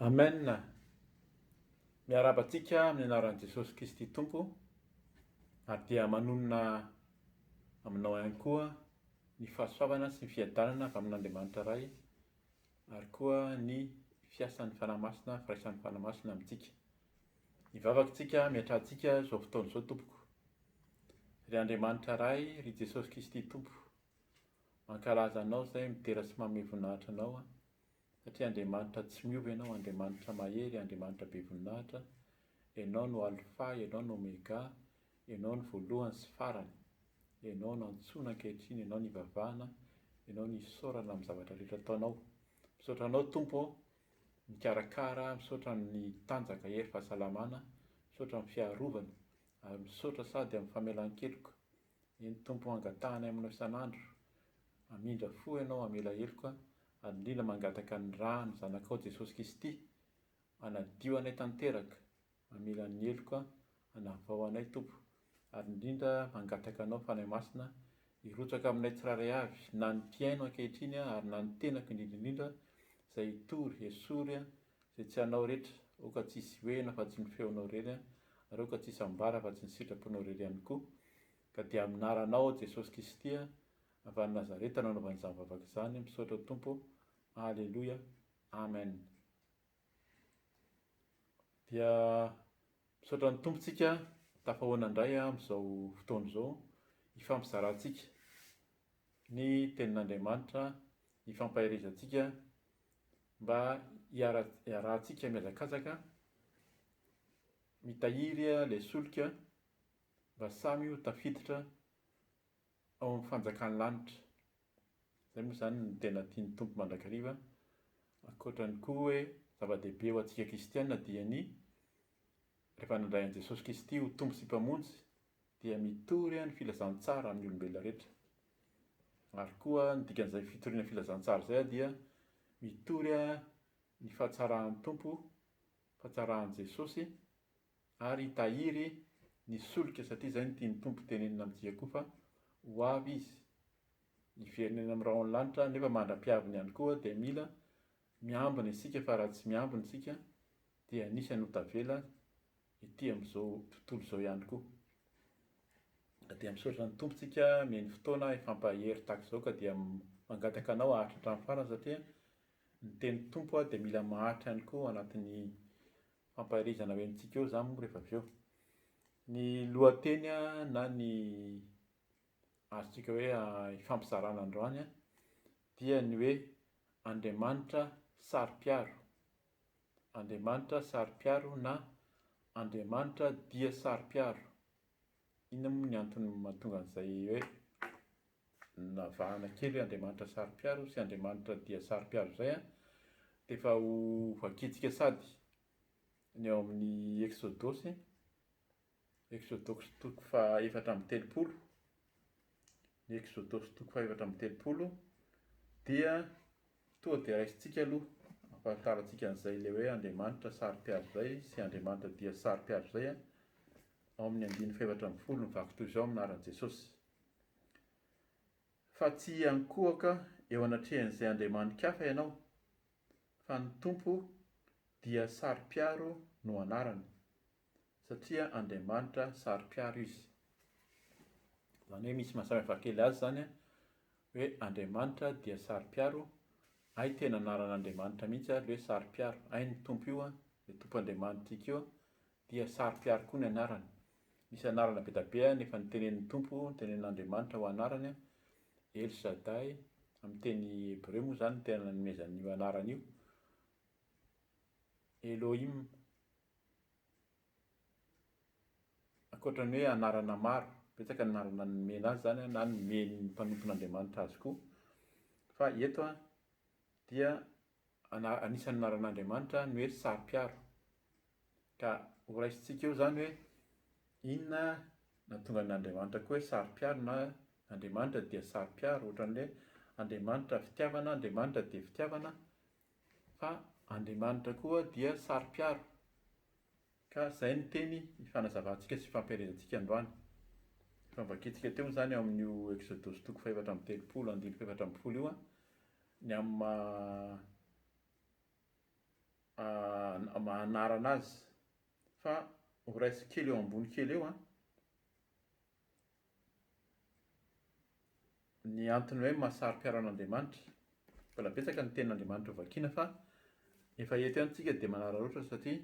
Amen! Miarahaba antsika amin'ny anaran'i Jesosy Kristy Tompo ary dia manonona aminao ihany koa ny fahasoavana sy ny fiadanana avy amin'Andriamanitra Ray ary koa ny fiasan'ny Fanahy Masina, firaisan'ny Fanahy Masina amintsika. Mivavaka isika, miantrahantsika izao fotoana izao tompoko. Ry Andriamanitra Ray, ry Jesosy Kristy Tompo, Mankalaza anao izay midera sy manome voninahitra anao aho, satria Andriamanitra tsy miova ianao, Andriamanitra mahery, Andriamanitra be voninahitra, ianao no Alfa, ianao no Omega, ianao no voalohany sy farany, ianao no antsoina ankehitriny, ianao no ivavahana, ianao no isaorana amin'ny zavatra rehetra ataonao. Misaotra anao Tompo aho, mikarakara, misaotra amin'ny tanjaka, hery, fahasalamana, misaotra amin'ny fiarovana, ary misaotra sady amin'ny famelan-keloka, Ny Tompo hangatahany aminao isan'andro, Hamindra fo ianao hamela heloka, ary indrindra mangataka ny ra ny Zanakao Jesosy Kisty hanadio anay tanteraka, hamela ny heloka, hanavao anay Tompo, ary indrindra mangataka Anao Fanahy Masina hirotsaka aminay tsirairay avy, na ny mpihaino ankehitriny ary na ny tenako indrindra indrindra izay hitory, hesory Zay tsy anao retra, oh ka tsisy hohena fa tsy ny feonao rery an, ary oh ka tsisy ambara fa tsy ny sitraponao rery ihany koa, ka dia amin'ny naranao aho Jesosy Kisty a, avy any Nazareta no anaovana izany vavaka izany, misaotra Tompo, Aleloia, Amen. Dia misaotra ny Tompo tsika, tafahoana indray amin'izao fotoana izao, hifampizarantsika ny tenin'Andriamanitra, hifampaherezantsika mba hiarahantsika mihazakazaka mitahiry ilay solika mba samy ho tafiditra ao amin'ny fanjakan'ny lanitra. Izay moa izany no tena tian'ny Tompo mandrakariva. Ankoatrany koa hoe zava-dehibe ho antsika kristiana dia ny rehefa nandray an'i Jesosy Kristy ho Tompo sy Mpamonjy dia mitory ny filazantsara amin'ny olombelona rehetra. Ary koa ny dikan'izay fitoriana filazantsara izay dia mitory ny fahatsaran'ny Tompo, fahatsaran'i Jesosy, ary hitahiry ny solika satria izay no tian'ny Tompo tenenina amintsika koa fa ho avy Izy. Hiverina eny amin'ny rahon'ny lanitra nefa mandra-piaviny ihany koa dia mila Miambina isika fa raha tsy miambina isika dia anisany ho tavela ety amin'izao tontolo izao ihany koa. Ka dia misaotra ny Tompontsika mihaino fotoana hifampahery tahaka izao ka dia mangataka anao haharitra hatramin'ny farany satria ny tenin'ny Tompo dia mila maharitra ihany koa anatin'ny fampaherezana ho entintsika eo izany moa rehefa avy eo. Ny lohateny na ny azontsika hoe ifampizarana androany dia ny hoe Andriamanitra saro-piaro, Andriamanitra saro-piaro na Andriamanitra dia saro-piaro. Inona moa ny antony mahatonga an'izay hoe navahana kely hoe Andriamanitra saro-piaro sy Andriamanitra dia saro-piaro izay an? Dia efa ho vakintsika sady ny ao amin'ny Eksodosy. Eksodosy toko fahaefatra amby telopolo, ny Eksodosy toko fahaefatra amby telopolo dia tonga dia raisintsika aloha, ampahafantarantsika an'izay ilay hoe Andriamanitra saro-piaro izay sy Andriamanitra dia saro-piaro izay, ao amin'ny andininy fahefatra ambin'ny folo mivaky toy izao amin'ny anaran'i Jesosy, Fa tsy hiankohoka eo anatrehan'izay andriamani-kafa ianao, fa ny Tompo dia saro-piaro no anarany. satria Andriamanitra saro-piaro izy. Izany hoe misy maha samy hafa kely azy izany hoe Andriamanitra dia saro-piaro, hay tena anaran'Andriamanitra mihitsy ary hoe saro-piaro, hay ny Tompo io, ilay Tompo Andriamanitrika io dia saro-piaro koa ny anarany. Misy anarana be dia be efa notenenin'ny Tompo, notenenin'Andriamanitra ho anarany, El Shaddai, amin'ny teny hebreo moa izany no tena nanomezany io anarana io, Elohim, Ankoatra ny hoe anarana maro, betsaka ny anarana nomena azy izany na nomen'ny mpanompon'Andriamanitra azy koa. Fa eto dia ana- anisan'ny anaran'Andriamanitra ny hoe Saro-piaro. Ka horaisintsika eo izany hoe inona no nahatonga an'Andriamanitra koa hoe Saro-piaro na Andriamanitra dia Saro-piaro, ohatran'ny hoe Andriamanitra fitiavana, Andriamanitra dia fitiavana. Fa Andriamanitra koa dia saro-piaro. Ka izay no teny ifanazavantsika sy ifampielezantsika androany. Efa novakintsika teo izany ao amin'io Eksodosy toko fahefatra amby telopolo andininy fahefatra ambin'ny folo io, ny amin'ny maha maha anarana azy. Fa ho raisiko kely eo ambony kely eo an. Ny antony hoe mahasaro-piaro an'Andriamanitra, mbola betsaka ny tenin'Andriamanitra ho vakiana fa efa eto ihany tsika dia manararaotra satria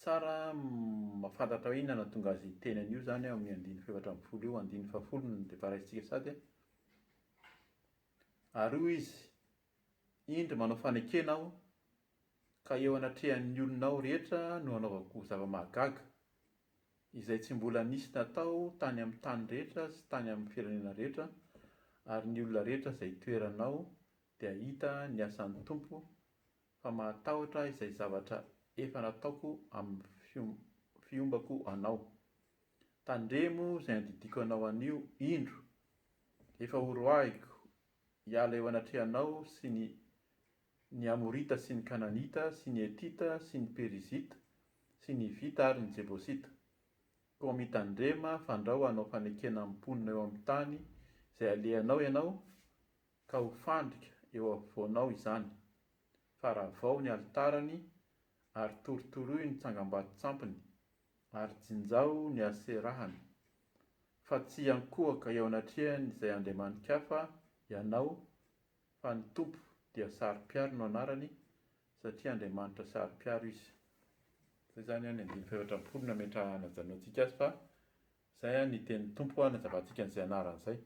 tsara mahafantatra hoe inona no nahatonga azy hiteny an'io izany ao amin'ny andininy fahefatra ambin'ny folo io, andininy fahafolo no dia efa raisintsika sahady an. Ary hoy izy, Indro manao fanekena aho Ka eo anatrehan'ny olonao rehetra no hanaovako zava-mahagaga, izay tsy mbola nisy natao tany amin'ny tany rehetra sy tany amin'ny firenena rehetra, ary ny olona rehetra izay hitoeranao dia hahita ny asan'ny Tompo, fa mahatahotra izay zavatra efa nataoko amin'ny fiombako anao. Tandremo izay andidiako anao anio, indro, efa horoahiko hiala eo anatrehanao sy ny ny Amorita sy ny Kananita sy ny Hetita sy ny Perizita sy ny Hivita ary ny Jebosita. Koa mitandrema fandrao hanao fanekena amin'ny mponina eo amin'ny tany izay alehanao ianao ka ho fandrika eo afovoanao izany. Faravao ny alitarany ary torotoroy ny tsangambaton-tsampiny ary jinjao ny Aserahany. Fa tsy hiankohoka eo anatrehan'izay andriamani-kafa ianao fa ny Tompo dia saro-piaro no anarany satria Andriamanitra saro-piaro Izy. Izay izany an ny andininy fahefatra ambin'ny folo no nametra-hanajanontsika azy fa izay an ny tenin'ny Tompo hanazavantsika an'izay anarany izay.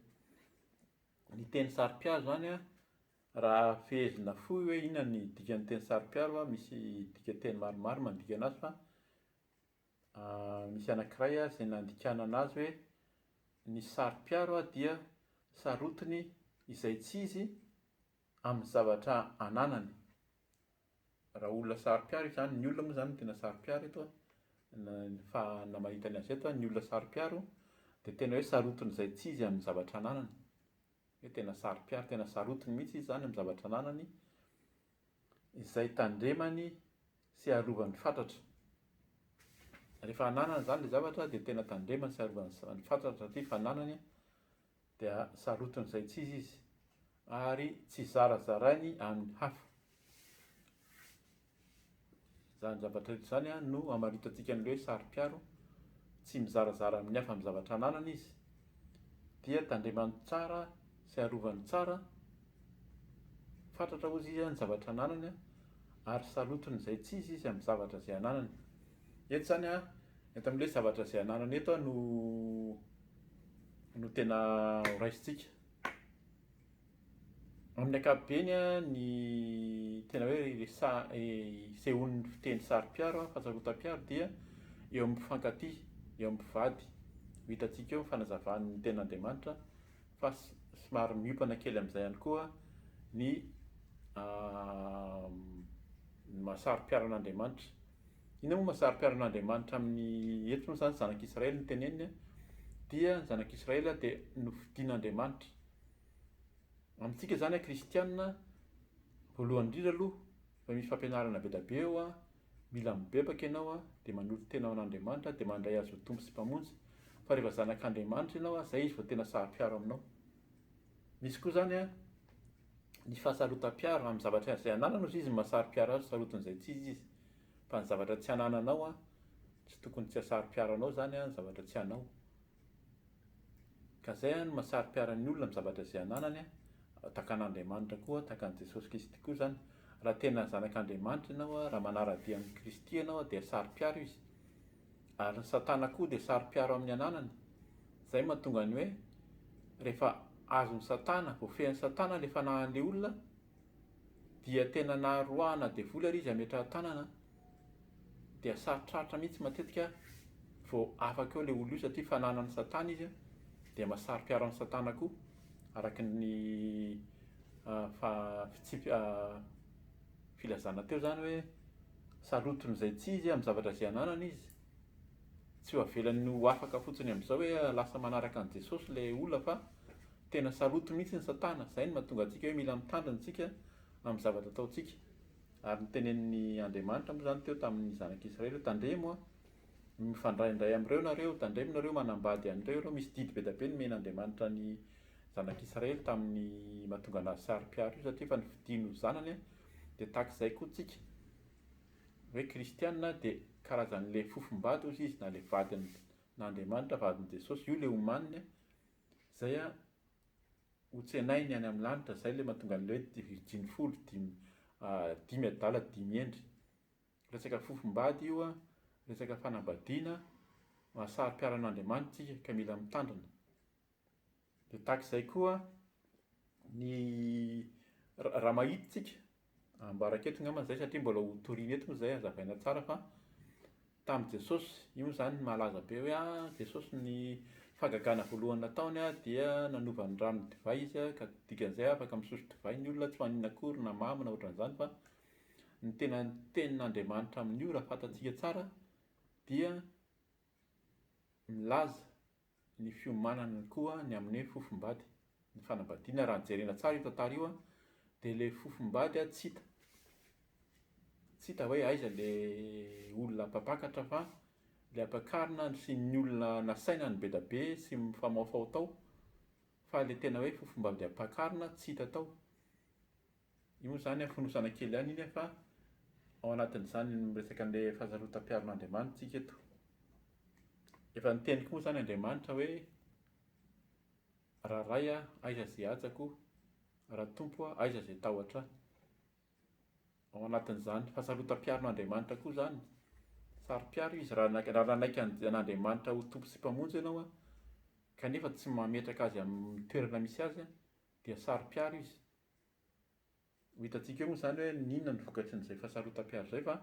Ny teny saro-piaro izany an, raha fehezina fohy hoe inona ny dikan'ny teny saro-piaro an, misy dikanteny maromaro mandika anazy fa, Misy anankiray ary izay nandikanana azy hoe, Ny saro-piaro dia sarotiny izay tsy izy amin'ny zavatra ananany. Raha olona saro-piaro izany, ny olona moa izany no tena saro-piaro eto an, fa mahita ny azy eto an, ny olona saro-piaro dia tena hoe sarotiny izay tsy izy amin'ny zavatra ananany, hoe tena saro-piaro, tena sarotiny mihitsy izy izany amin'ny zavatra ananany. izay tandremany sy arovany fatratra. Rehefa ananany izany ilay zavatra dia tena tandremany sy arovany fatratra ity fananany dia sarotiny izay tsy izy izy ary tsy zarazarainy amin'ny hafa. Izany zavatra rehetra izany no hamaritantsika an'ilay hoe saro-piaro, tsy mizarazara amin'ny hafa amin'ny zavatra ananany izy, dia tandremany tsara sy arovany tsara, fatratra hozy izy ny zavatra ananany ary salotony izay tsy izy izy amin'ny zavatra izay ananany. Eto izany an, eto amin'ilay hoe zavatra izay ananany eto no no tena horaisintsika. Amin'ny ankapobeny, ny tena hoe isehoan'ny fiteny saro-piaro, fahasarotam-piaro, dia eo amin'ny mpifankatia, eo amin'ny mpivady. Ho hitantsika eo ny fanazavan'ny Tenin'Andriamanitra fa somary miompana kely amin'izay ihany koa ny maha saro-piaro an'Andriamanitra. Inona moa maha saro-piaro an'Andriamanitra amin'ny, eto moa izany zanak'Israely no teneniny, dia ny zanak'Israely dia nofidin'Andriamanitra Amintsika izany an kristianina, voalohany indrindra aloha efa misy fampianarana be da be eo an, mila mibebaka ianao an, dia manolo tena ho an'Andriamanitra dia mandray Azy ho Tompo sy Mpamonjy, fa rehefa zanak'Andriamanitra ianao an, izay Izy vao tena sahapiaro aminao. Misy koa izany an, ny fahasarotam-piaro amin'ny zavatra izay anananao izay izy no mahasaropiaro azy, sarotin'izay tsy izy izy, fa ny zavatra tsy anananao an, tsy tokony tsy hasaropiaro anao izany an, ny zavatra tsy anao. Ka zay an ma sary piara ny olona am zavatra ze ananany an, takan Andriamanitra koa, takan Jesosy Kristy koa zan, ra tena zanak Andriamanitra ianao an, ra manara dia am Kristy ianao an dia sary piaro izy, ary ny satana koa dia sary piaro am ny ananany, zay matonga ny oe refa azon satana, voafehin satana le fanahan le olona dia tena naha roahana devoly ary izy ametraha tanana dia sarotrarotra mihitsy matetika vao afaka eo ilay olona io satria fananan'i Satana izy dia mahasaro-piaro an'i Satana koa araka ny filazana teo izany hoe sarotiny izay tsy izy amin'ny zavatra izay ananany izy, tsy ho avelany ho afaka fotsiny amin'izao hoe lasa manaraka an'i Jesosy ilay olona fa tena sarotiny mihitsy i Satana, izay no mahatonga antsika hoe mila mitandrina isika amin'ny zavatra ataontsika. Ary nitenen'N Andriamanitra moa izany teo tamin' ny Zanak' Israely hoe, Tandremo a! mifandray indray amin' ireo nareo, tandremo nareo manambady an' ireo ireo, misy didy be da be nomen' Andriamanitra ny Zanak' Israely tamin' ny mahatonga anazy saro-piaro io, satria efa nifidiny ho zanany, dia tahaka izay koa tsika hoe kristiana dia karazan' ilay fofom-bady ozy izy na ilay vadin' Andriamanitra, vadin' Jesosy, io ilay omaniny, izay ho tsenainy any amin'ny lanitra izay ilay mahatonga an'ilay hoe dia virjiny folo dimy dimy adala dimy hendry. Resaka fofombady io an, resaka fanambadiana, mahasary piharan'Andriamanitra isika ka mila mitandrina. Dia tahaka izay koa ny raha mahita isika Ambarako eto ngambany izay satria mbola ho toriana eto moa izay hazavaina tsara fa tamin'i Jesosy, io moa izany malaza be hoe a, Jesosy ny fahagagana voalohany nataony a, dia nanova ny rano ho divay izy a, ka dikan'izay afaka misotro divay ny olona, tsy ho an'ny akory na mamy na ohatran'izany fa ny tena tenin'Andriamanitra amin'io raha fantatsika tsara dia milaza ny fiomanany koa ny amin'ny hoe fofombady, ny fanambadiana raha jerena tsara io tantara io dia ilay fofombady tsy hita, tsy hita hoe aiza ilay olona mpampakatra fa ilay ampakarina sy ny olona nasaina nibeda be sy mifamaofao tao fa ilay tena hoe fofombady ampakarina tsy hita tao. Io izany an, fonosana kely ihany iny an, fa ao anatin'izany ny miresaka an'ilay fahasarotam-piaron'Andriamanitra isika eto. Efa niteny koa moa izany Andriamanitra hoe, Raha Ray an, aiza izay hajako? Raha Tompo an, aiza izay tahotra Ahy? Ao anatin'izany fahasarotam-piaron'Andriamanitra koa izany. Saro-piaro Izy raha nanaiky, raha nanaiky an'Andriamanitra ho Tompo sy Mpamonjy ianao an, kanefa tsy mametraka Azy amin'ny toerana misy Azy an, dia saro-piaro Izy. Ho hitantsika eo moa izany hoe n'inona ny vokatry n'izay fahasarotam-piaro izay fa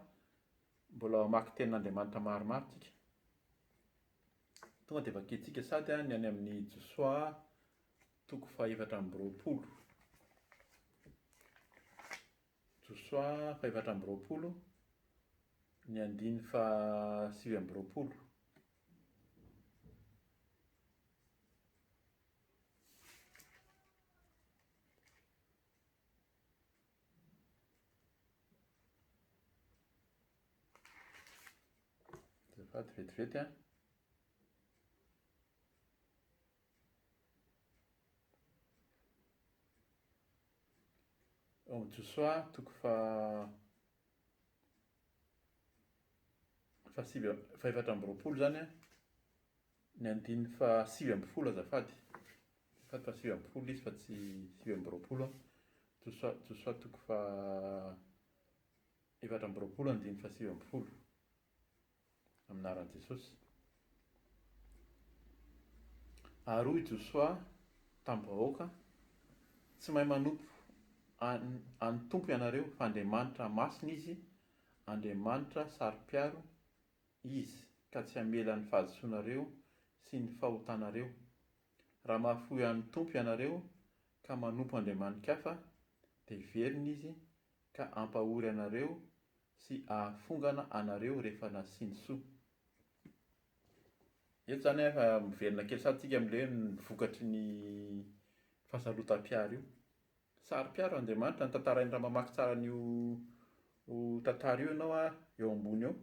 mbola mamaky tenin'Andriamanitra maromaro tsika. Tonga dia vakintsika sady ny any amin'ny Josoa toko fahefatra amby roapolo. Josoa fahefatra amby roapolo, ny andiny fahasivy amby roapolo. Azafady vetivety an! Ao Josoa toko faha fahasivy, fahefatra amby roapolo izany an! Ny andininy faha sivy ambin'ny folo azafady, azafady fa sivy ambin'ny folo izy fa tsy sivy amby roapolo an, Josoa Josoa toko faha efatra amby roapolo andininy faha sivy ambin'ny folo, amin'ny anaran'i Jesosy. Ary hoy Josoa tamin'ny vahoaka, Tsy mahay manompo an an'ny Tompo ianareo, fa Andriamanitra masina izy, Andriamanitra saro-piaro Izy, ka tsy hamela ny fahadisoanareo sy ny fahotanareo. Raha mahafoy an'ny Tompo ianareo ka manompo andriamani-kafa, dia hiverina Izy ka hampahory anareo sy hahafongana anareo rehefa nasiany soa. Eto izany an, efa miverina kely sahady isika amin'ilay hoe ny vokatry ny fahasarotam-piaro io. Tsara mpiaro Andriamanitra ny tantarainy raha mamaky tsara an'io tantara io ianao eo ambony eo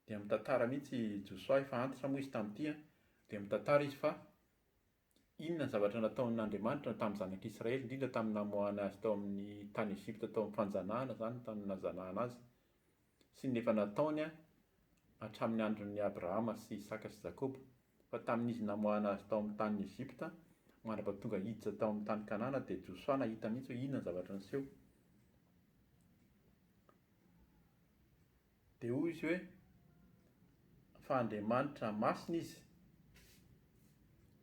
dia mitantara mihintsy i Josoa efa antitra moa izy tamin'ity an, dia mitantara izy fa inona ny zavatra nataon'Andriamanitra tamin'ny zanak'Israely indrindra tamin'ny namoahany azy tao amin'ny tany Egypta tao amin'ny fanjanahana izany tany nanjanahana azy. sy ny efa nataony hatramin'ny andron'i Abrahama sy Isaka sy Jakoba, fa tamin'izy namoahana azy tao amin'ny tanin'i Egypta mandra-paha tonga hiditra tao amin'ny tany Kanana dia Josoa nahita mihitsy hoe inona ny zavatra niseho. Dia hoy izy hoe, fa Andriamanitra masina izy.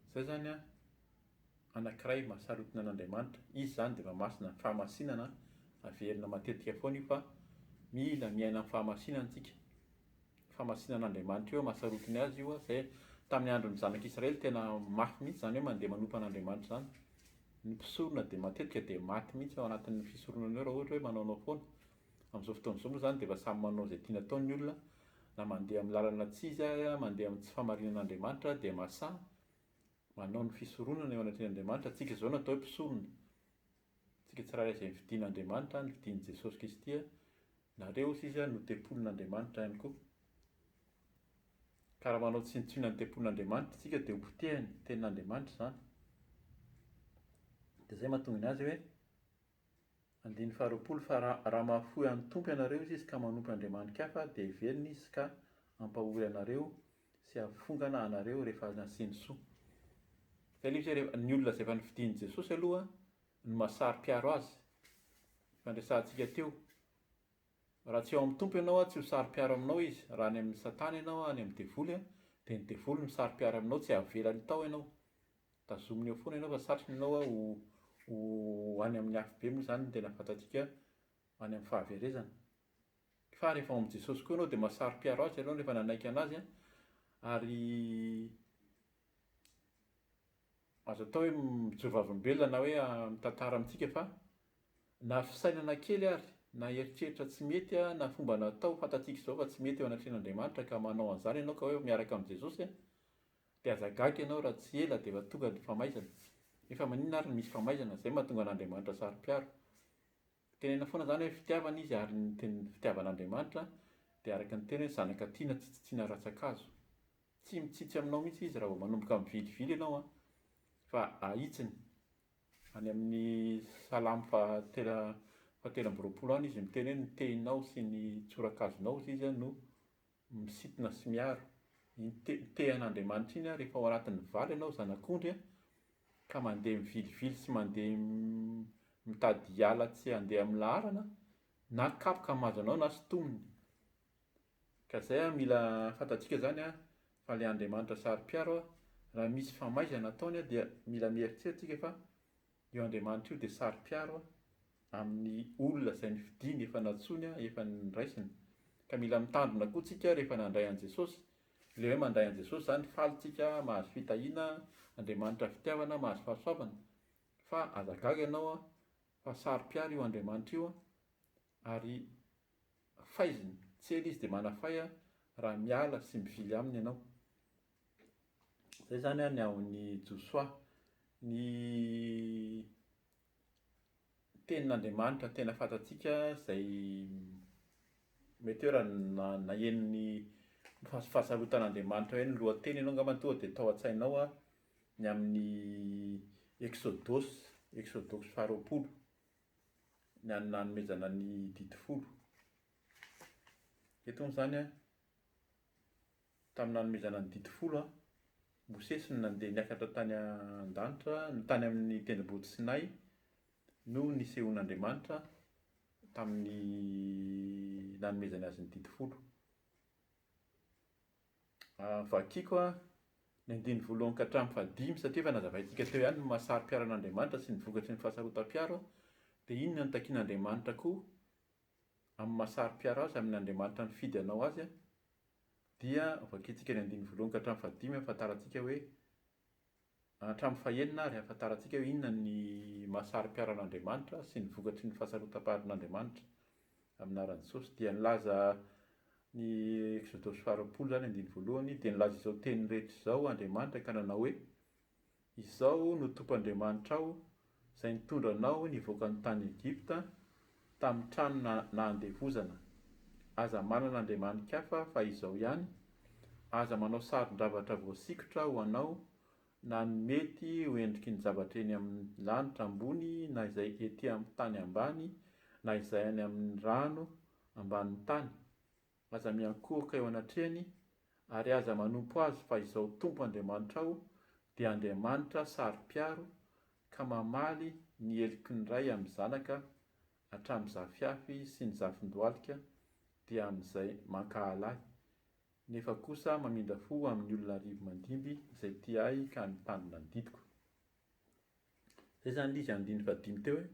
Izay izany an. anankiray mahasarotina an'Andriamanitra, izy izany dia efa masina amin'ny fahamasinana, averina matetika foana io fa mila miaina amin'ny fahamasinana isika, fahamasinan'Andriamanitra io mahasarotiny azy io, izay tamin'ny andron'ny zanak'i Israely tena mafy mihintsy izany hoe mandeha manompo an'Andriamanitra izany, ny mpisorona dia matetika dia maty mihintsy ao anatin'ny fisoronana eo raha ohatra hoe manaonao foana, amin'izao fotoana izao moa izany dia efa samy manao izay tiany atao ny olona, na mandeha amin'ny lalana tsy izy ary mandeha amin'ny tsy fahamarinan'Andriamanitra dia masaha, Manao ny fisoronana eo anatrehan' Andriamanitra tsika izao no atao hoe mpisorona. Tsika tsirairay izay nifidin' Andriamanitra, nifidin' Jesosy Kristy, nareo sisa no tempolin' Andriamanitra ihany koa. Ka raha manao tsinontsinona ny tempolin' Andriamanitra tsika dia ho potehin' ny tenin' Andriamanitra izany. Dia izay no mahatonga ny azy hoe, andininy faharoapolo, fa raha raha mahafoy an' ny Tompo ianareo izy ka manompo andriamani-kafa dia heveriny izy ka hampahory anareo sy hafongana anareo rehefa nasiany soa. Telo izy hoe ny olona izay efa nofidin'i Jesosy aloha no maha saro-piaro azy. Efa niresahantsika teo. Raha tsy ao amin'ny Tompo ianao tsy ho saro-piaro aminao izy. Raha any amin'i Satana ianao any amin'ny devoly dia ny devoly no saro-piaro aminao tsy havelany tao ianao. Tazominy eo foana ianao fa satriny ianao ho ho any amin'ny afobe moa izany no tena fantatsika any amin'ny fahaverezana. Fa rehefa ao amin'i Jesosy koa ianao dia mahasaro-piaro Azy ianao rehefa nanaiky an'Azy an, ary azo atao hoe mijovavolombelona na hoe mitantara amintsika fa na fisainana kely ary, na eritreritra tsy mety na fomba natao fantatsika izao fa tsy mety eo anatrehan'Andriamanitra ka manao an'izany ianao ka hoe miaraka amin'i Jesosy an, dia aza gaga ianao raha tsy ela dia efa tonga ny famaizana. Nefa maninona ary no misy famaizana? Izay no mahatonga an'Andriamanitra saro-piaro. Tenenina foana izany hoe fitiavana izy ary ny teny fitiavan'Andriamanitra dia araka ny teny hoe zanaka tiana tsy tsitsiana ratsan-kazo. Tsy mitsitsy aminao mihitsy izy raha vao manomboka mivilivily ianao an, fa ahitsiny. Any amin'ny salamo fahatelo fahatelo amby roapolo any izy miteny hoe ny tehinao sy ny tsorakazonao hozy izy no Misintona sy miaro. Iny te-te an'Andriamanitra iny aho rehefa ao anatin'ny valo ianao zanak'ondry a, ka mandeha mivilivily sy mandeha mitady hiala tsy handeha amin'ny laharana, na kapoka mahazo anao na sintomina. Ka izay a, mila fantatsika izany a, fa ilay Andriamanitra saro-piaro a, raha misy famaizana ataony a, dia mila mieritreritra isika fa Io Andriamanitra io dia saro-piaro amin'ny olona izay nifidiany, efa nantsoiny, efa niraisiny. Ka mila mitandrina koa tsika rehefa nandray an'i Jesosy. Ilay hoe mandray an'i Jesosy izany faly tsika, mahazo fitahiana, Andriamanitra fitiavana, mahazo fahasoavana. Fa aza gaga ianao an, fa saro-piaro io Andriamanitra io an, ary faizina, tsy ela izy dia manafay raha miala sy mivily aminy ianao. Zay zany an ny haon'i Josoa. Ny tenin'Andriamanitra tena fantatsika izay mety hoe raha na- naheno ny fahas- fahasarotan'Andriamanitra hoe ny lohateny ianao angambany tonga dia tao an-tsainao an ny amin'ny Exodus, Exodus faharoapolo, ny an'ny nanomezana ny didy folo. Eto moa izany an. Tamin'ny nanomezana ny Didy Folo, Mosesy no nandeha niakatra tany an-danitra, no tany amin'ny tendrombohitra Sinay no nisehoan'Andriamanitra tamin'ny nanomezany azy ny Didy Folo. Vakiko ny andininy voalohany ka hatramin'ny fahadimy satria efa nazavaintsika teo ihany ny maha saro-piaro an'Andriamanitra sy ny vokatry ny fahasarotam-piaro. Dia inona no takian'Andriamanitra koa amin'ny maha saro-piaro azy, amin'Andriamanitra nifidy anao azy? dia vakintsika ny andininy voalohany ka hatramin'ny fahadimy hahafantarantsika hoe, hatramin'ny fahenina ary hahafantarantsika hoe inona ny maha saro-piaran'Andriamanitra sy ny vokatry ny fahasarotam-paharin'Andriamanitra amin'ny anaran'i Jesosy. Dia nilaza ny Eksodosy faharoapolo izany andininy voalohany, dia nilaza izao teny rehetra izao Andriamanitra ka nanao hoe, Izao no Tompoandriamanitrao, izay nitondra anao nivoaka ny tany Egypta, tamin'ny tranona nahandevozana. Aza manana andriamani-kafa fa izao ihany, aza manao sarin-javatra voasikotra ho anao, na ny mety ho endriky ny zavatra eny amin'ny lanitra ambony na izay ety amin'ny tany ambany na izay any amin'ny rano ambanin'ny tany. Aza miankohoka eo anatrehany, ary aza manompo azy fa izao Tompo Andriamanitrao dia Andriamanitra saro-piaro ka mamaly ny heloky ny ray amin'ny zanaka hatramin'ny zafiafy sy ny zafin-dohalika dia amin'izay mankahala ahy, nefa kosa mamindra fo amin'ny olona arivo mandimby izay tia ahy ka mitandrina ny didiko. Izay izany ilay izy andininy fahadimy teo hoe,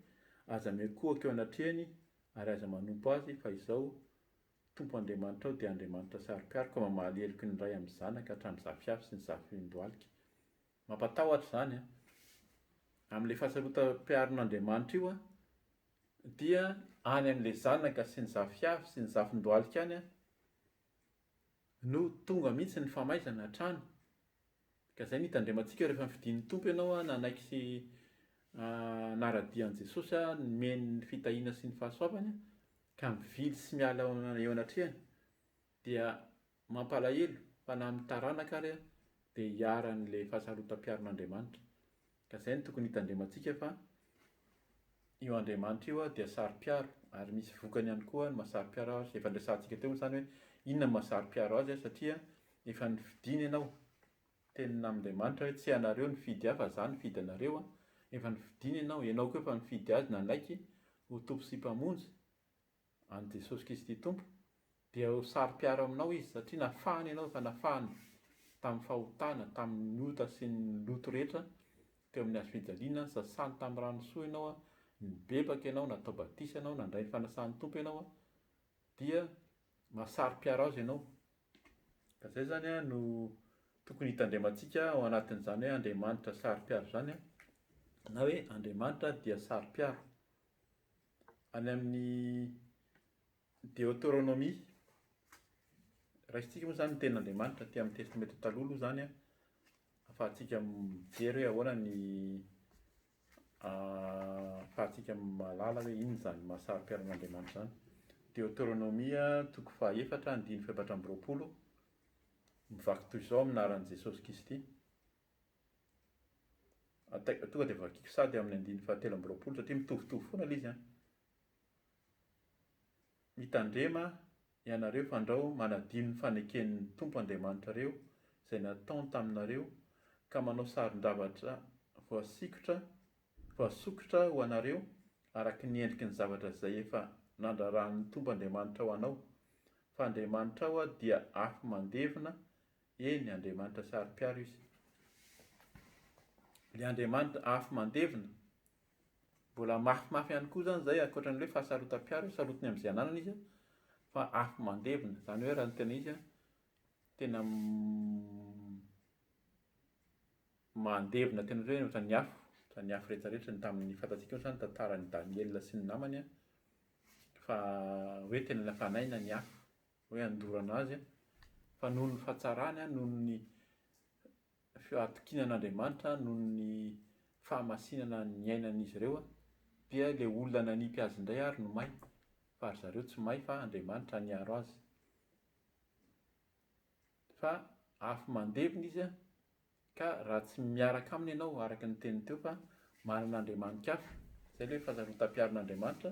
Aza miankohoka eo anatrehany ary aza manompo azy fa izao Tompo Andriamanitrao dia Andriamanitra saro-piaro ka mamaly heloky ny ray amin'ny zanaka hatramin'ny zafiafy sy ny zafin-dohalika. Mampatahotra izany an! Amin'ilay fahasarotam-piaron'Andriamanitra io an, dia any amin'ilay zanaka sy ny zafiafy sy ny zafin-dohalika any an, no tonga mihitsy ny famaizana hatrany. Ka izay no hitandremantsika rehefa nifidin'ny Tompo ianao nanaiky sy nara-dia an'i Jesosy, nomeny ny fitahiana sy ny fahasoavany, ka mivily sy miala eo anatrehany, dia mampalahelo fa na amin'ny taranaka ary dia hiharan'ilay fahasarotam-piaron'Andriamanitra. Ka izay no tokony hitandremantsika fa io Andriamanitra io dia saro-piaro ary misy vokany ihany koa ny mahasaro-piaro azy. Efa niresahantsika teo moa izany hoe inona no mahasaro-piaro azy satria efa nofidiny ianao. Teny amin'Andriamanitra hoe tsy ianareo nifidy ahy fa izaho nifidy anareo. Efa nofidiny ianao, ianao koa efa nifidy azy nanaiky ho Tompo sy Mpamonjy. an'i Jesosy Kristy Tompo, dia ho saro-piaro aminao Izy, satria nafahany ianao, efa nafahany tamin'ny fahotana, tamin'ny ota sy ny loto rehetra teo amin'ny Hazo fijaliana, sasany tamin'ny rano soa ianao, nibebaka ianao, natao batisa ianao, nandray ny fanasan'ny Tompo ianao, dia mahasaro-piaro Azy ianao. Ka izay izany an no tokony hitandremantsika ao anatin'izany hoe Andriamanitra saro-piaro izany an, na hoe Andriamanitra dia saro-piaro. any amin'ny Deotoronomia, raisintsika moa izany ny tenin'Andriamanitra aty amin'ny Testamenta Taloha aloha izany an, ahafahantsika mijery hoe ahoana ny ahafahantsika mahalala hoe inona izany maha saro-piaron'Andriamanitra izany. Deotoronomia toko fahaefatra andininy fahefatra amby roapolo, mivaky toy izao amin'ny anaran'i Jesosy Kristy. Ataiko tonga dia vakiko sady amin'ny andininy fahatelo amby roapolo satria mitovitovy foana ilay izy an. Mitandrema ianareo fandrao manadino ny faneken'ny Tompo Andriamanitrareo izay nataony taminareo ka manao saron-javatra voasikotra, voasokitra ho anareo araka ny endriky ny zavatra izay efa nandraran'ny Tompo Andriamanitrao anao, fa Andriamanitrao dia afo mandevina Eny, Andriamanitra saro-piaro Izy. Ilay Andriamanitra afo mandevina. Mbola mafimafy ihany koa izany izay, ankoatra ny hoe fahasarotam-piaro, sarotiny amin'izay ananany Izy, fa afo mandevina. Izany hoe raha ny tena izy, tena mandevina tena hoe ohatran'ny afo, ohatran'ny afo rehetra rehetra, ny tamin'ny fantatsika ohatrany ny tantaran'i Daniela sy ny namany fa hoe tena nafanaina ny afo. hoe handorana azy, fa noho ny fahatsarany, noho ny fahatokiana an'Andriamanitra, noho ny fahamasinana niainan'izy ireo, dia ilay olona nanipy azy indray àry no may, fa ry zareo tsy may fa Andriamanitra niaro azy. Fa afo mandevona izy Ka raha tsy miaraka aminy ianao araka ny teniny teo fa manana andriamanitk hafa, izay ilay fahasarotam-piarin'Andriamanitra,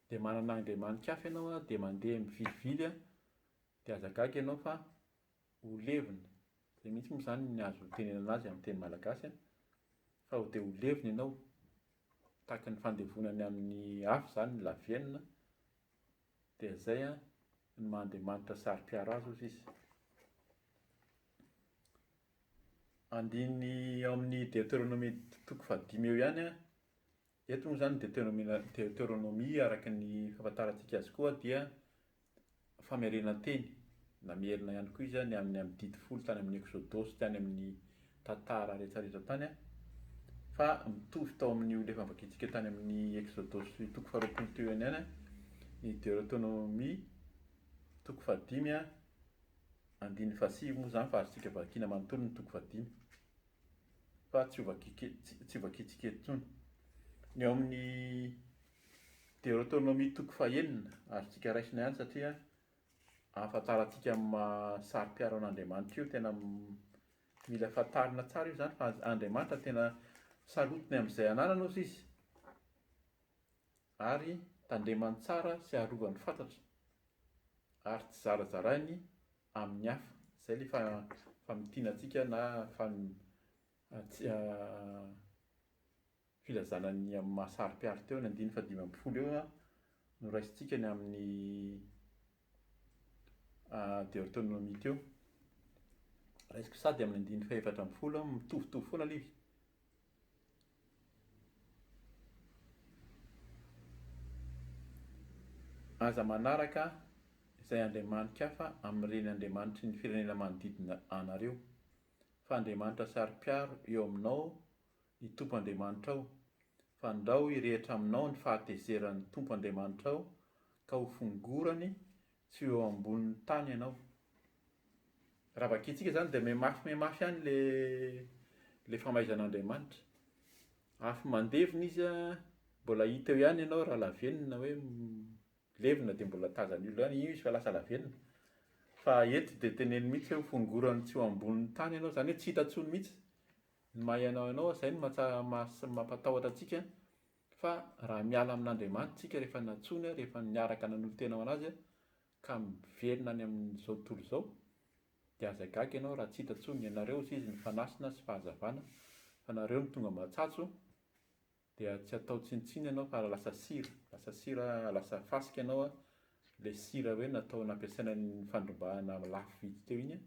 dia manana andriamanitk hafa ianao an, dia mandeha mivilivily an, dia aza gaga ianao fa ho levona, izay mihitsy moa izany ny azo itenenana azy amin'ny teny malagasy an, fa dia ho levona ianao, tahaka ny fandevonany amin'ny afo izany ny lavenona, Dia zay an, ny maha Andriamanitra saro-piaro azy ozy izy. Andininy ao amin'ny Deteronomia toko fahadimy eo ihany an, eto moa zany Deteronomia Deteronomia araka ny fahafantarantsika azy koa dia famerenan-teny na miherina ihany koa izy an, ny amin'ny amin'ny didy folo tany amin'ny Eksodosy tany amin'ny tantara rehetra rehetra tany an! fa mitovy tao amin' ny olona efa vakintsika tany amin' ny Eksodosy toko faharoapolo teo ihany an! ny Deoteronomia toko fahadimy an! andininy fahasivy moa izany fa azontsika vakina manontolo ny toko fahadimy fa tsy ho tsy ho vakintsika eto intsony! ny ao amin' ny Deoteronomia toko fahenina azontsika raisina ihany satria ahafantarantsika amin' ny maha saro-piaro an' Andriamanitra io tena Mila fantarina tsara io izany fa Andriamanitra tena sarotiny amin'izay ananana ozy Izy ary tandremany tsara sy arovany fatratra ary tsy zarazarainy amin'ny hafa. Izay ilay fa-famintinantsika na fam- Filazana ny amin'ny maha saro-piaro teo ny andininy fahadimy ambin'ny folo eo no raisintsika ny amin'ny Deotonomia teo. Raisiko sady amin'ny andininy fahefatra ambin'ny folo aho, mitovitovy foana aloha izy. Aza manaraka izay andriamani-kafa amin'ireny andriamanitry ny firenena manodidina anareo, fa andriamanitra saro-piaro eo aminao ny Tompo Andriamanitrao, fa andrao hirehitra aminao ny fahatezeran' ny Tompo Andriamanitrao, ka ho fongorany tsy ho eo ambonin' ny tany ianao. Raha vakintsika izany dia mihamafy mihamafy ihany ilay ilay famaiza an' Andriamanitra. Afo mandevona Izy an, mbola hita eo ihany ianao raha lavenona hoe levona dia mbola tazan' ny olona ihany, io izy fa lasa lavenona. Fa eto dia teneniny mihitsy hoe ho fongorany tsy ho ambonin' ny tany ianao, izany hoe tsy hita intsony mihitsy. Ny maha ianao ianao izay no mampatahotra antsika fa raha miala amin'Andriamanitra isika rehefa nantsoiny, rehefa niaraka nanolo-tena ho an'Azy ka miverina any amin'izao tontolo izao dia aza gaga ianao raha tsy hita intsony, ianareo hoy Izy ny fanasina sy fahazavana fa nareo no tonga matsatso dia tsy atao tsinontsinona ianao fa lasa sira, lasa sira, lasa fasika ianao, ilay sira hoe natao nampiasaina nifandrombahana lafo vidy teo iny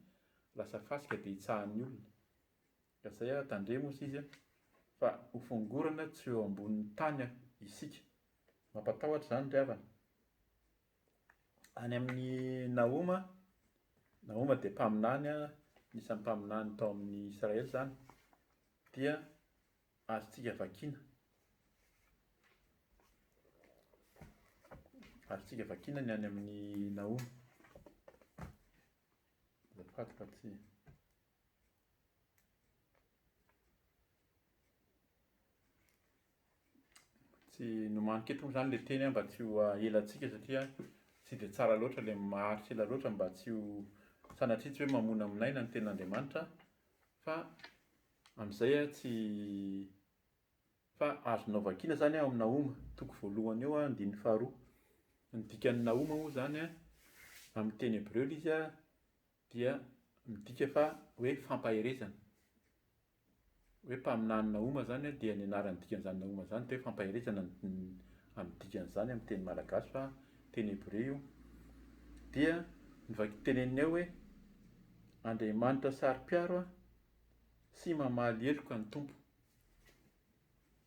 lasa fasika dia hitsahan'ny olona. Ka zay aho tandremo hoy izy fa ho fongorana tsy eo ambonin'ny tany isika. Mampatahotra izany ry havana. Any amin'i Nahoma, Nahoma dia mpaminany, anisan'ny mpaminany tao amin'i Israely izany, dia azontsika vakiana, azontsika vakiana ny any amin'i Nahoma. Azafady fa tsy. Tsy nomaniko eto moa izany ilay teny mba tsy ho elantsika satria tsy dia tsara loatra ilay maharitra ela loatra mba tsy ho sanatria tsy hoe mamonamonaina ny tenin'Andriamanitra fa amin'izay an tsy fa azonao vakiana izany ao amin'ny Nahoma toko voalohany eo andininy faharoa. Ny dikan'ny Nahoma moa izany an, amin'ny teny hebreo ilay izy an, dia midika fa hoe fampaherezana. Hoe mpaminany Nahoma izany dia ny anaran'ny dikan'izany Nahoma izany dia hoe fampaherezana amin'ny dikan'izany amin'ny teny malagasy fa teny hebreo io. Dia ny vaki- teneniny ao hoe Andriamanitra saro-piaro aho sy mamaly heloka ny Tompo.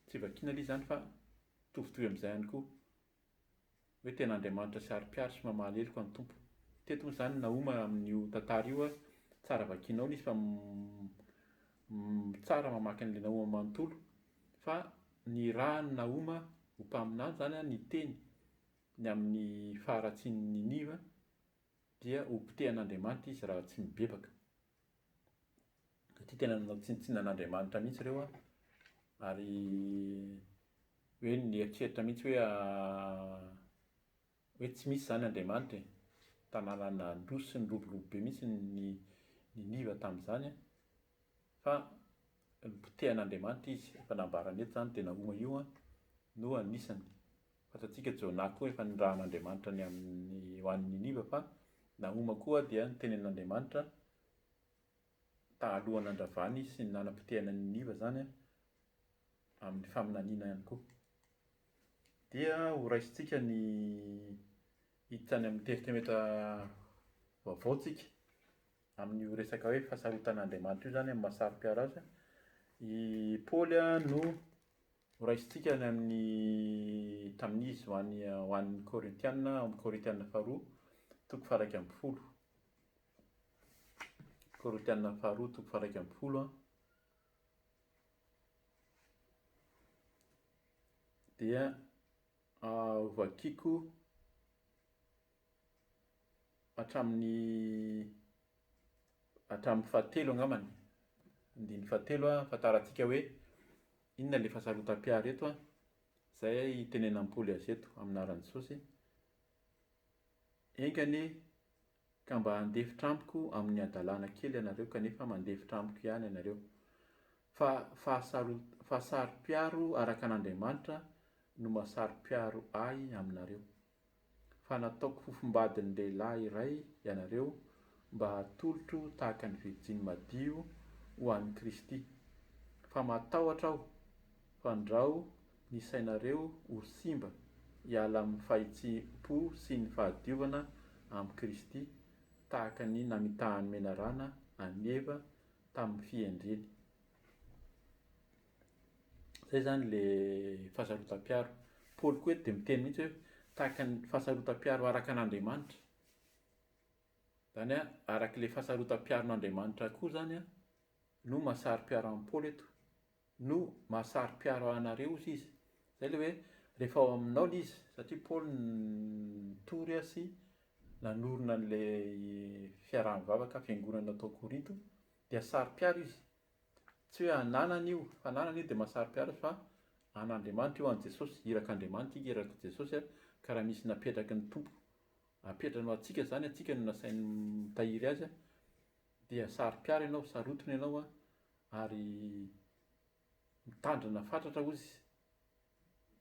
Tsy vakiana aloha izany fa mitovitovy amin'izay ihany koa. hoe tena Andriamanitra saro-piaro sy mamaly heloka ny Tompo. Teto moa izany Nahoma amin'io tantara io a, tsara vakianao ilay izy fa tsara mamaky an'ilay Nahoma manontolo fa nirahan'i Nahoma ho mpaminany izany a ny teny ny amin'ny faharatsian'i Niniva dia hopotehan'Andriamanitra izy raha tsy mibebaka. satria tena nanao tsinontsinona an'Andriamanitra mihitsy ireo an, ary hoe nieritreritra mihitsy hoe hoe tsy misy izany Andriamanitra e, tanàna nandroso sy niroborobo be mihitsy ny Niniva tamin'izany an, fa Nopotehan'Andriamanitra izy, efa nambarany eto izany dia Nahoma io no anisany. Fantatsika Jona koa efa nirahan'Andriamanitra ny amin'ny ho any Niniva fa Nahoma koa dia nitenen'Andriamanitra taaloha nandravany sy nanapotehana an'i Niniva izany amin'ny faminaniana ihany koa. Dia ho raisintsika ny hiditra any amin'ny Testamente vaovao tsika. Amin'io resaka hoe fahasarotan'Andriamanitra io izany amin'ny maha saro-piaro azy, i Paoly no horaisintsika any amin'ny tamin'izy ho an'ny ho an'ny Korintiana, ao amin'ny Korintiana faharoa, toko faharaika ambin'ny folo. Korintiana faharoa, toko faharaika ambin'ny folo an. Dia ah, hovakiko hatramin'ny hatramin'ny fahatelo angambany, andininy fahatelo ahafantarantsika hoe inona ilay fahasarotam-piaro eto an, izay hitenenan'i Paoly azy eto amin'ny anaran'i Jesosy, enga anie ka mba handefitra amiko amin'ny hadalana kely ianareo kanefa mandefitra amiko ihany ianareo, fa fahasarot- fahasaro-piaro araka an'Andriamanitra no mahasaro-piaro ahy aminareo. fa nataoko fofombadin-dehilahy iray ianareo mba hatolotro tahaka ny virjiny madio ho an'i Kristy. Fa matahotra aho fa ndrao ny sainareo ho simba hiala amin'ny fahitsim-po sy ny fahadiovana amin'i Kristy tahaka ny namitahan'ny menarana an'i Eva tamin'ny fihendreny. Zay zany le fahasarotam-piaro. Paoly koa eto dia miteny mihitsy hoe tahaka ny fahasarotam-piaro araka an'Andriamanitra. Zany hoe araka ilay fahasarotam-piaron'Andriamanitra koa zany an, no mahasaro-piaro an'i Paoly eto. No mahasaro-piaro anareo, hozy izy. Zay le hoe rehefa ao aminao le izy, satria Paoly nitory sy nanorina an'ilay fiaraha-mivavaka, fiangonana tao Korinto, dia saro-piaro izy. Tsy hoe ananana io, fananana io dia mahasaro-piaro fa an'Andriamanitra io, an'i Jesosy, irak'Andriamanitra ika, irak'i Jesosy, ka raha misy napetraky ny Tompo apetrany ho antsika izany, antsika no nasainy mitahiry azy, dia saro-piaro ianao, sarotiny ianao ary mitandrina fatratra hoy izy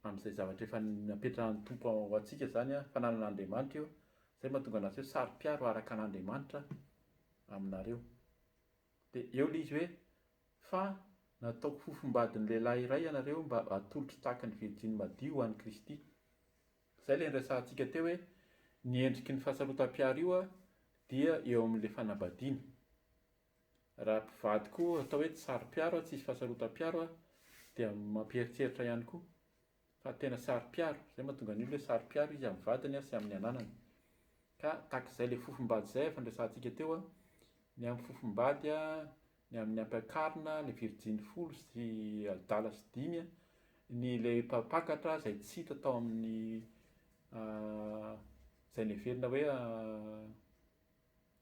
amin'izay zavatra efa napetrahan'ny Tompo ho antsika izany, fananan'Andriamanitra io, izay no mahatonga an'azy hoe saro-piaro araka an'Andriamanitra aminareo. Dia eo ilay izy hoe, Fa nataoko fofombadin'ny lehilahy iray ianareo mba hatolotro tahaka ny virjiny madio ho an'i Kristy. Izay ilay niresahantsika teo hoe ny endriky ny fahasarotam-piaro io dia eo amin'ilay fanambadiana. Raha mpivady koa atao hoe tsy saro-piaro, tsy hisy fahasarotam-piaro dia mampieritreritra ihany koa. fa tena saro-piaro, izay mahatonga ny olona hoe saro-piaro izy amin'ny vadiny sy amin'ny ananany. Ka tahaka izay ilay fofom-bady izay efa niresahantsika teo, ny amin'ny fofom-bady, ny amin'ny ampiakarina, ilay virjiny folo sy adala sy dimy, ny ilay mpampakatra izay tsy hita tao amin'ny izay neverina hoe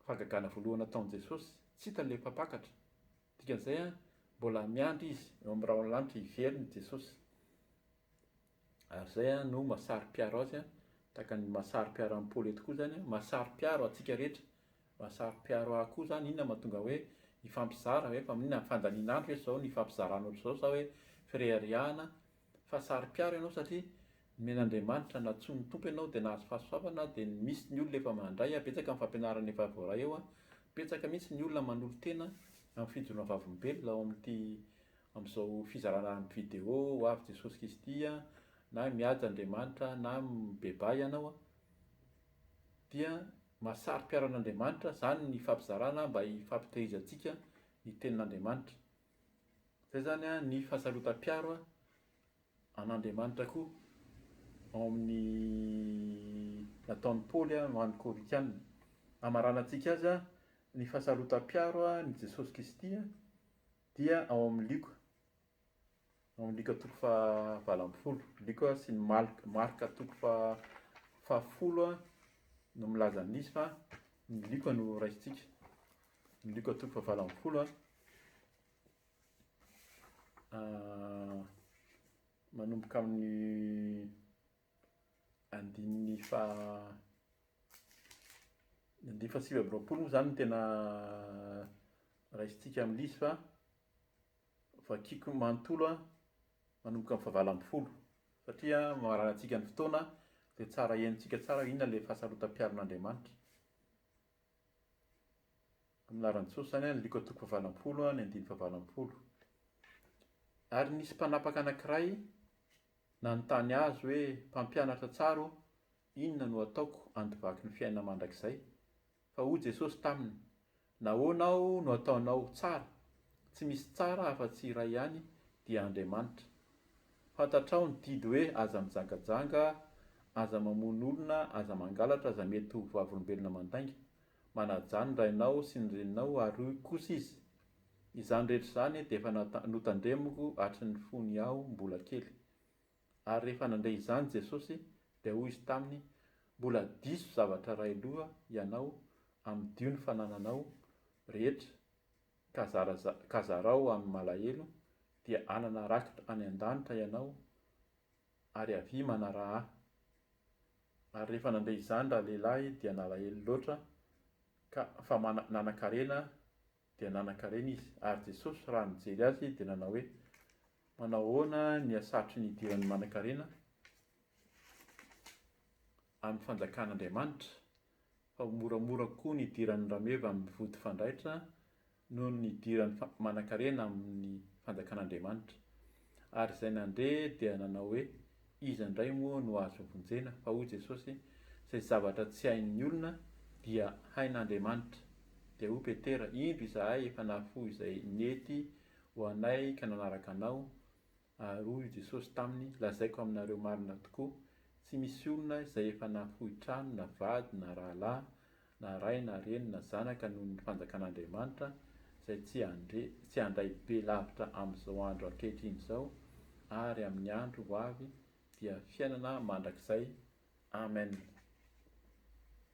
Fahagagana voalohany ataon'i Jesosy, tsy hitany ilay mpampakatra. Dikan'izay, mbola miandry izy eo amin'ny rahon'ny lanitra hiverina i Jesosy. Ary izay no mahasaro-piaro azy, tahaka ny mahasaro-piaro an'i Paoly eto koa izany, mahasaro-piaro antsika rehetra. Mahasaro-piaro ahy koa izany, inona no mahatonga hoe hifampizara ve, fa inona, fandanian'andro ve izao no hifampizaranao ry izao sa hoe fireharehana fa saro-piaro ianao satria nomen'Andriamanitra nantsoin'ny Tompo ianao dia nahazo fahasoavana dia misy ny olona efa mandray betsaka amin'ny fampianarana efa voaray ao betsaka mihitsy ny olona manolo-tena amin'ny fijoroana vavolombelona ao amin'ity amin'izao fizarana amin'ny vidéo ho avy Jesosy Kristy na mihaja Andriamanitra na mibebaha ianao dia maha saro-piaro an'Andriamanitra izany ny fampizarana mba hifampitehirizantsika ny tenin'Andriamanitra Zay zany an ny fahasarotam-piaro an Andriamanitra koa ao amin'ny nataon'i Paoly an ho an'ny Korintiana. Hamaranantsika azy an ny fahasarotam-piaro an ny Jesosy Kristy an dia ao amin'ny Lioka, ao amin'ny Lioka toko faha valo ambin'ny folo, Lioka sy ny Malk, Marka toko faha fahafolo an no milaza an'izy fa ny Lioka no raisintsika. Ny Luka toko fahavalo ambin'ny folo a, manomboka amin'ny andininy faha, ny andininy fahasivy amby roapolo moa zany no tena raisintsika amin'ilay izy fa vakiako manontolo a, manomboka amin'ny fahavalo ambin'ny folo satria mamarana antsika ny fotoana dia tsara henontsika tsara hoe inona ilay fahasarotam-piaron'Andriamanitra. amin'ny laharan'i Jesosy izany an, Lioka toko fahavalo-ampolo ny andininy fahavalo-ampolo. Ary nisy mpanapaka anankiray nanontany Azy hoe, Mpampianatra tsara ô, inona no ataoko handovaky ny fiainana mandrakizay? Fa hoy Jesosy taminy, Nahoana aho no ataonao ho tsara? Tsy misy tsara afa-tsy iray ihany, dia Andriamanitra. Fantatrao ny didy hoe aza mijangajanga, aza mamono olona, aza mangalatra, aza mety ho vavolombelona mandainga. Manajà ny rainao sy ny reninao ary hoy kosa izy, Izany rehetra izany dia efa notandremiko hatry ny fony aho mbola kely. Ary rehefa nandre izany Jesosy dia hoy izy taminy, Mbola diso zavatra iray loha ianao, amidio ny fanananao rehetra, ka zara ka zarao amin'ny malahelo dia hanana rakitra any an-danitra ianao ary avia manaraha ahy. Ary rehefa nandre izany ralehilahy dia nalahelo loatra ka fa mana nanan-karena dia nanan-karena izy. Ary Jesosy raha nijery azy dia nanao hoe, Manao ahoana ny hasarotry ny hidiran'ny manan-karena amin'ny fanjakan'Andriamanitra? fa ho moramora koa ny hidiran'ny rameva amin'ny vody fanjaitra noho ny hidirany fa manankarena amin'ny fanjakan'Andriamanitra. Ary izay nandre dia nanao hoe, Iza indray moa no azo vonjena? Fa hoy Jesosy, Izay zavatra tsy hain'ny olona, dia hain'Andriamanitra. Dia hoy Petera, Indro izahay efa nahafoy izay nety ho anay ka nanaraka anao, Ary hoy i Jesosy taminy, Lazaiko aminareo marina tokoa, Tsy misy olona izay efa nahafoy trano, na vady, na rahalahy, na ray, na reny, na zanaka noho ny fanjakan'Andriamanitra, izay tsy handre, tsy handray be lavitra amin'izao andro ankehitriny izao, ary amin'ny andro ho avy dia fiainana mandrakizay. Amen.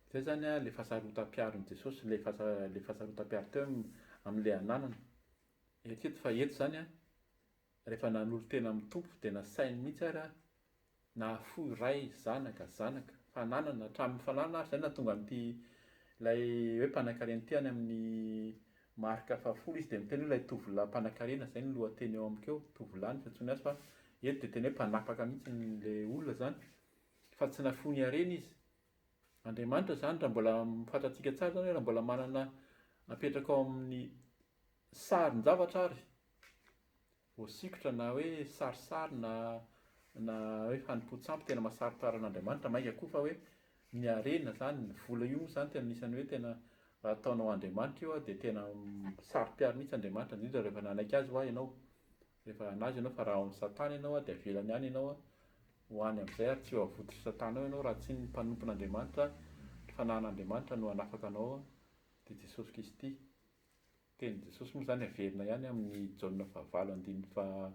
Izay izany ilay fahasarotam-piaron'i Jesosy, ilay fahasa, ilay fahasarotam-piaro teo amin'ilay ananana. Eritrereto fa eto izany Rehefa nanolo-tena amin'ny Tompo dia nasainy mihitsy ary aho nahafoy Ray, Zanaka, Zanaka, fananana, hatramin'ny fananana ary izay no nahatonga an'ity ilay hoe mpanankarena ity any amin'ny Marka fahafolo izy dia miteny hoe ilay tovolahy mpanankarena, izay no lohateny eo amiko eo, tovolahy no fiantsoany azy fa eto dia tena hoe mpanapaka mihitsy ilay olona izany fa tsy nafoiny harena izy. Andriamanitra izany raha mbola fantatsika tsara izany hoe raha mbola manana apetraka ao amin'ny Sarin-javatra ary voasikotra na hoe sarisary na na hoe fanompoan-tsampy tena mahasarotra aran'Andriamanitra, mainka koa fa hoe ny harena izany, ny vola io moa izany tena anisan'ny hoe tena raha ataonao andriamanitra io dia tena saro-piaro mihitsy Andriamanitra, indrindra rehefa nanaiky azy ho'a ianao, rehefa an'azy ianao fa raha ao amin'i Satana ianao dia avelany any ianao ho any amin'izay ary tsy ho avotry Satana ao ianao raha tsy ny mpanompon'Andriamanitra, ny fanahin'Andriamanitra no hanafaka anao dia Jesosy Kristy. Tenin'i Jesosy moa izany averina ihany amin'i Jaona fahavalo andininy faha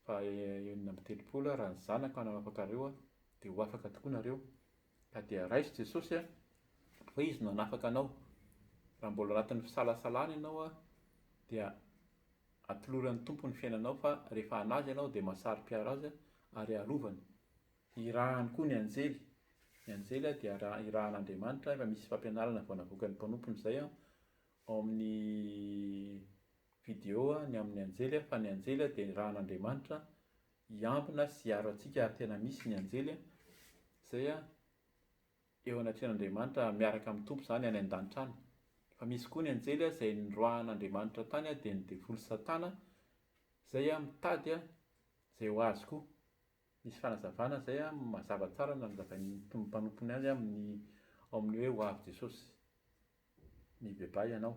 faha enina amby telopolo, Raha ny Zanako hananafaka anareo aho, dia ho afaka tokoa nareo. Ka dia raiso Jesosy an, fa Izy no hanafaka anao. Raha mbola anatin'ny fisalasalana ianao an, dia atoloran'ny Tompo ny fiainanao fa rehefa hanaja ianao dia mahasaro-piaro Azy ary arovany. Hirahany koa ny anjely. Ny anjely dia irahan'Andriamanitra, efa misy fampianarana vao navoakan'ny mpanompony izay ao amin'ny video ny amin'ny anjely fa ny anjely dia irahan'Andriamanitra hiambina sy hiaro antsika ary tena misy ny anjely izay eo anatrehan'Andriamanitra miaraka amin'ny Tompo izany any an-danitra any. Fa misy koa ny anjely izay niroahan'Andriamanitra tany dia ny devoly Satana izay mitady izay ho azy koa. Nisy fanazavana izay mazava tsara nanazavain'ny mpanompony azy amin'ny ao amin'ny hoe hoavy Jesosy mibebaha ianao.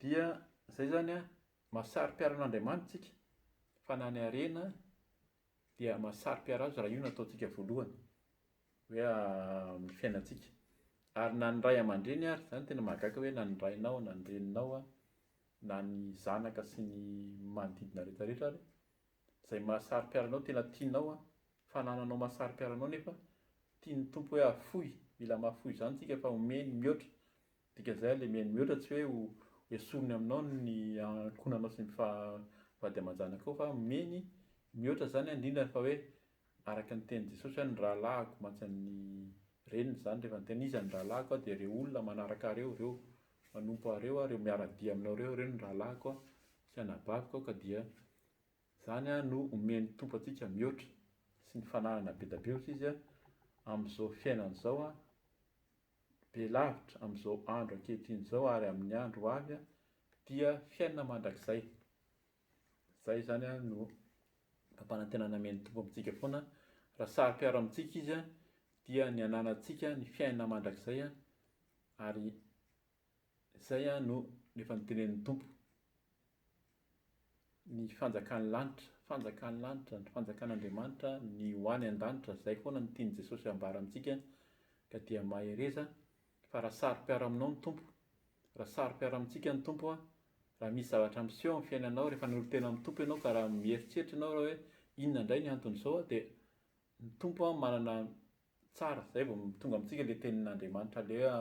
Dia izay izany an, masari-piaran'Andriamanitra isika fa na ny harena dia masari-piara azy raha io no ataontsika voalohany hoe amin'ny fiainantsika. Ary na ny ray aman-dreny ary, izany tena mahagaga hoe na ny rainao na ny reninao na ny zanaka sy ny manodidina rehetra rehetra ary, Zay mahasaro-piaro anao tena tianao an! Fanananao mahasaro-piaro anao nefa tian'ny Tompo hoe afoy, mila mahafoy izany tsika fa omeny mihoatra, dikan'izay alemeny mihoatra tsy hoe ho esoriny aminao ny ankonanao sy ny vady aman-janakao fa omeny mihoatra izany an, indrindra fa hoe araka ny tenin'i Jesosy hoe ny rahalahiko mantsy an'ny reniny izany rehefa niteny iza ny rahalahiko an dia ireo olona manaraka ahy ireo, ireo manompo ahy ireo an, ireo miara-dia aminao ireo, ireo no rahalahiko an, sy anabaviko an ka dia Izany no omen'ny Tompo antsika mihoatra sy ny fananana be da be ohatry izy amin'izao fiainana izao be lavitra amin'izao andro ankehitriny izao ary amin'ny andro ho avy dia fiainana mandrakizay. Izay izany no fampanantenana omen'ny Tompo amintsika foana raha saro-piaro amintsika izy dia ny ananantsika ny fiainana mandrakizay ary Izay aho no efa notenenin'ny Tompo. Ny fanjakan'ny lanitra, fanjakan'ny lanitra, ny fanjakan'Andriamanitra, ny ho any an-danitra, izay foana no tian'i Jesosy ambara amintsika ka dia mahereza fa raha saro-piaro aminao ny Tompo, raha saro-piaro amintsika ny Tompo, raha misy zavatra miseho amin'ny fiainanao rehefa nolo-tena amin'ny Tompo ianao ka raha mieritreritra ianao raha hoe inona indray ny anton'izao dia ny Tompo manana Tsara zay vao tonga amintsika le tenin'Andriamanitra aleha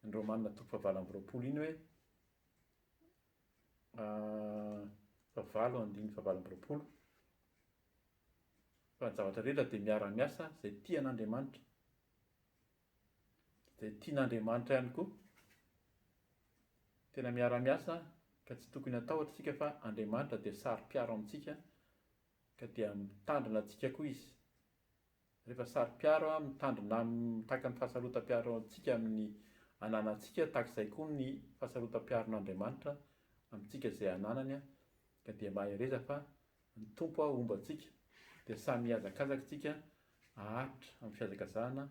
ny Romana toko fahavalo amby roapolo iny hoe fahavalo andininy fahavalo amby roapolo fa ny zavatra rehetra de miara-miasa zay tia an'Andriamanitra zay tian'Andriamanitra ihany koa tena miara-miasa ka tsy tokony hatahotra isika fa Andriamanitra de saro-piaro amintsika ka dia mitandrina antsika koa izy Rehefa saro-piaro an, mitandrina amin'ny mitaky ny fahasarotam-piaro antsika amin'ny ananantsika, tahaka izay koa ny fahasarotam-piaron'Andriamanitra amintsika izay ananany an, ka dia mahereza fa ny Tompo an homba antsika, dia samy hihazakazaka isika haharitra amin'ny fihazakazahana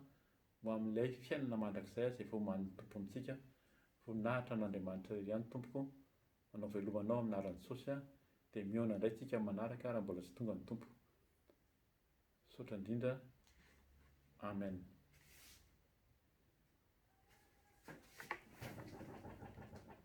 ho amin'ilay fiainana mandrakizay izay vao omanin'ny Tompo amintsika, voninahitra an'Andriamanitra irery ihany Tompoko, manao veloma Anao amin'ny anaran'i Jesosy an, dia mihaona indray tsika amin'ny manaraka raha mbola tsy tonga ny Tompo. Misaotra indrindra Amen.